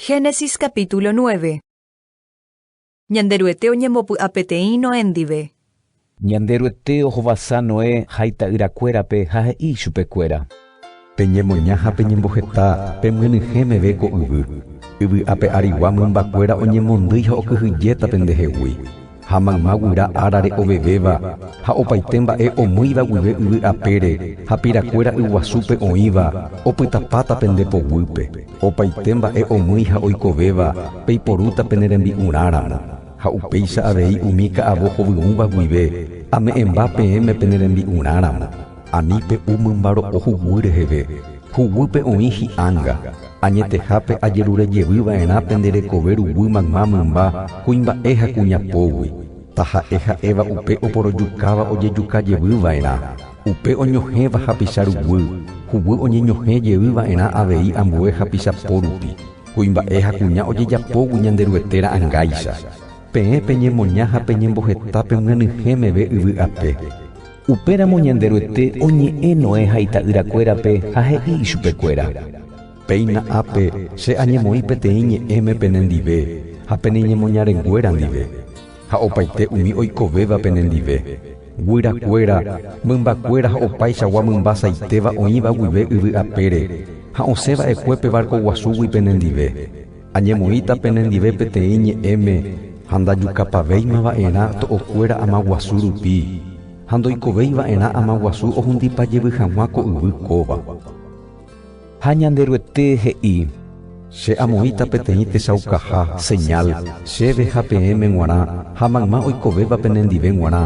Génesis capítulo 9 Ñanderuete oñembopy'a peteĩ Noé ndive. Ñanderuete ohovasa Noé ha ita'yrakuérape ha he'i ichupekuéra. Peñemoña ha peñemboheta pemyenyhẽ meve ko yvy, yvy ape arigua mymbakuéra oñemondýi ha okyhyjéta pendehegui. Ha mayma guyra árare ovevéva, ha opaite mba'e omýiva guive yvy apére, ha pirakuéra yguasúpe oĩva, opytapáta pende poguýpe. Opaite mba'e omýi ha oikovéva, peiporúta pene rembi'urãramo. Ha upéicha avei umi ka'avo hovyũva guive, ame'ẽmba peẽme pene rembi'urãramo. Ani pe u mymbaro'o huguy reheve, huguýpe oĩ hi'anga, añetehápe ajerure jevy va'erã pende rekove ruguy mayma mymba kuimba'e ha kuñapógui, taha'e ha'éva upe oporojukáva ojejuka jevy va'erã, upe oñohẽva hapicha ruguy, huguy oñeñohẽ jevy va'erã avei ambue hapicha pórupi, kuimba'e ha kuña ojejapógui Ñanderuete ra'ãngáicha. Peẽ peñemoña ha peñemboheta pemyanyhẽ meve yvy ape. Upéramo Ñanderuete oñe'ẽ Noé ha ita'yrakuérape ha he'i ichupekuéra, Péina ápe, Che añemoĩ peteĩ ñe'ẽme pene ndive ha pene ñemoñarenguéra ndive, ha opaite umi oikovéva pene ndive, guyrakuéra, mymbakuéra ha opaichagua mymba saitéva oĩva guive yvy apére ha osẽ va'ekue pe varko guasúgui pene ndive. Añemoĩta penendive peteĩ ñe'ẽme ha ndajukapavéima va'erã to'okuéra ama guasu rupi, ha ndoikovéi va'erã ama guasu ohundipa jevy hag̃ua ko yvy kóva. Ha Ñanderuete he'i, Che amoĩta peteĩ techaukaha, señal, chéve ha peẽme g̃uarã ha mayma oikovéva penendive g̃uarã,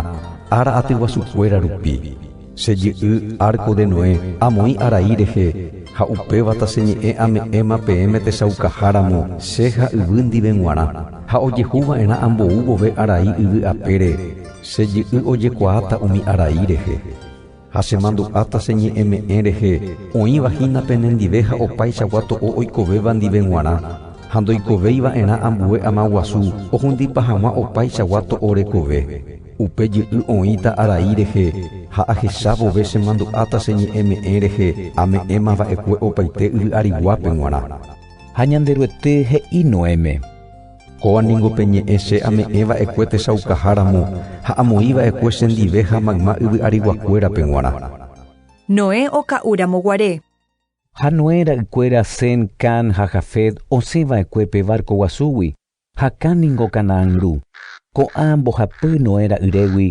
ára atyguasukuéra rupi. Che jy'y árko de Noé amoĩ arai rehe, ha upéva taseñe'ẽ ame'ẽma peẽme techaukaha ramo che ha yvy ndive g̃uarã, ha ojehu va'erã ambou vove arai yvy apére, che jy'y ojekuaáta umi arai rehe. Ha chemandu'a taseñe'ẽme'ẽ rehe oĩva hína penendive ha opaichagua to'o oikovéva ndive g̃uarã, ha ndoikovéi va'erã ambue ama guasu ohundipa hag̃ua opaichagua to'o rekove. Upe jy'y oĩta arai rehe ha ahecha vove chemandu'áta che ñe'ẽme'ẽ rehe ame'ẽma va'ekue opaite yvy ariguápe g̃uarã. Ha Ñanderuete he'i Noéme. Kóva ningo pe ñe'ẽ che ame'ẽ va'ekue techaukãha ramo ha amoĩ va'ekue chendive ha mayma yvy ariguakuérape g̃uarã. Noé oka'u ramo guare. Ha Noé ra'ykuéra Sem, Cam ha Jafet osẽ va'ekue pe barco guasúgui, Hakã ningo Canaán ru, ko'ã mbohapy Noé ra'yrégui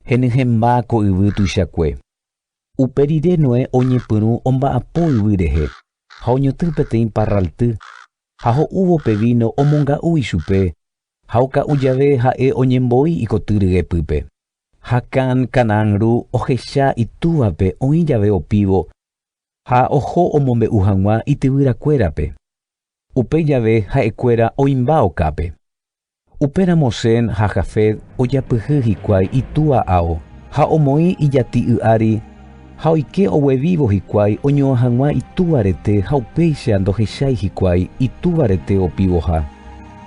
henyhẽmba ko yvy tuichakue. Upe rire Noé oñepyrũ omba'apo yvy rehe ha oñotỹ peteĩ parralty ha ho'úvo pe víno omonga'u ichupe ha oka'u jave ha'e oñemboi ikoty ryepýpe. Hakã Canaán ru ohecha itúvape oĩ jave opívo ha oho omombe'u hag̃ua ityvyrakuérape. Upéi jave ha'ekuéra oĩmba okápe. Upéramo Sem ha Jafet ojapyhy hikuái itúa ao ha omoĩ ijati'y ári ha oike ogue vívo hikuái oñoa hag̃ua itúva rete ha upéicha ndohechái hikuái itúva rete opivoha.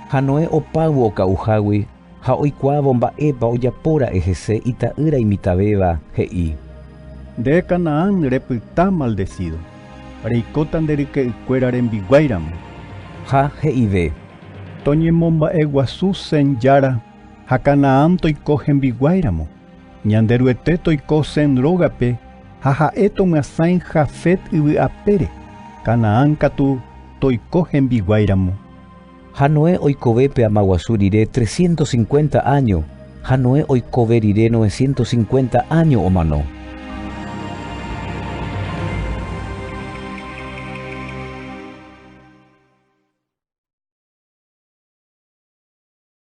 Ha Noé opáyvo oka'uhágui Ha oikuaávo mba'épa ojapóra'e hese ita'ýra imitavéva, he'i. Nde Canaán repyta maldesído, reikóta nde ryke'ykuéra rembiguáiramo. Ha he'ive. Toñemomba'eguasu Sem jára ha Canaán toiko hembiguáiramo, Ñanderuete toiko Sem rógape ha ha'e tomyasãi Jafet yvy apére, Canaán katu toiko hembiguáiramo. Ha Noé oikove pe ama guasu rire trescientos cincuenta áño, ha Noé oikove rire novecientos cincuenta áño omano.